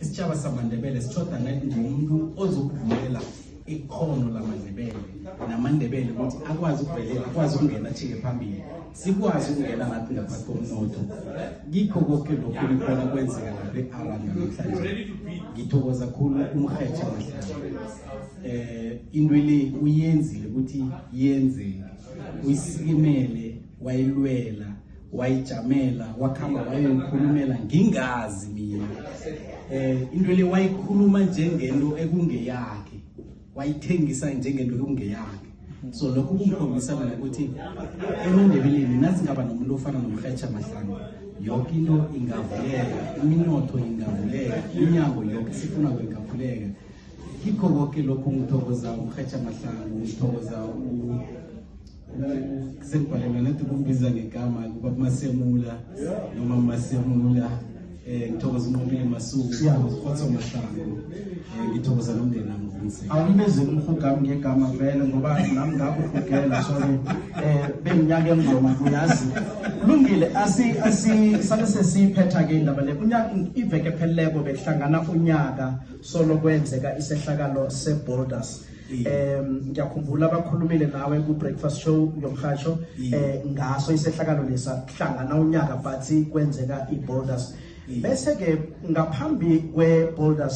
isitshaba samandebele sithoda ngathi ngomuntu ozokuvumela ikhono lamandebele namandebele ukuthi akwazi ukuvelela akwazi ukungena athinge phambili sikwazi ukungena nathi ngaphathi komnotho kikho koke lokhu nikona kwenzeka lapha e-aran namhlanje ngithokoza khulu umrhetsha mahlanje um into le uyenzile ukuthi yenzeke uyisikimele wayilwela wayijamela wakhamba wayoyikhulumela ngingazi mina eh into le wayikhuluma njengento ekungeyakhe wayithengisa njengento ekungeyakhe so lokho kumkhombisa mina ukuthi emandebeleni nasingaba nomuntu ofana nomrhetsha mahlanga yoke into ingavuleka iminotho ingavuleka inyango yoke sifuna kwingavuleka kikho koke lokho ngithokoza umrhetsha mahlanga ngithokoza sekubhale mina nti kumbiza ngegama kuba kumasemula noma masemula eh ngithokoza uNqobile Masuku ngithokoza uMahlango eh ngithokoza nomndeni nami ukuthi awumbize umhugami ngegama vele ngoba nami ngakho ugela so eh benginyaka engoma kuyazi kulungile asi asi sale sesiphetha ke indaba le unyaka iveke pheleleko bekuhlangana unyaka solo kwenzeka isehlakalo seBoulders um ngiyakhumbula bakhulumile nawe ku-breakfast show yomhatsho um eh, ngaso isehlakalo lesa hlangana unyaka bathi kwenzeka i-boulders bese-ke ngaphambi kwe-boulders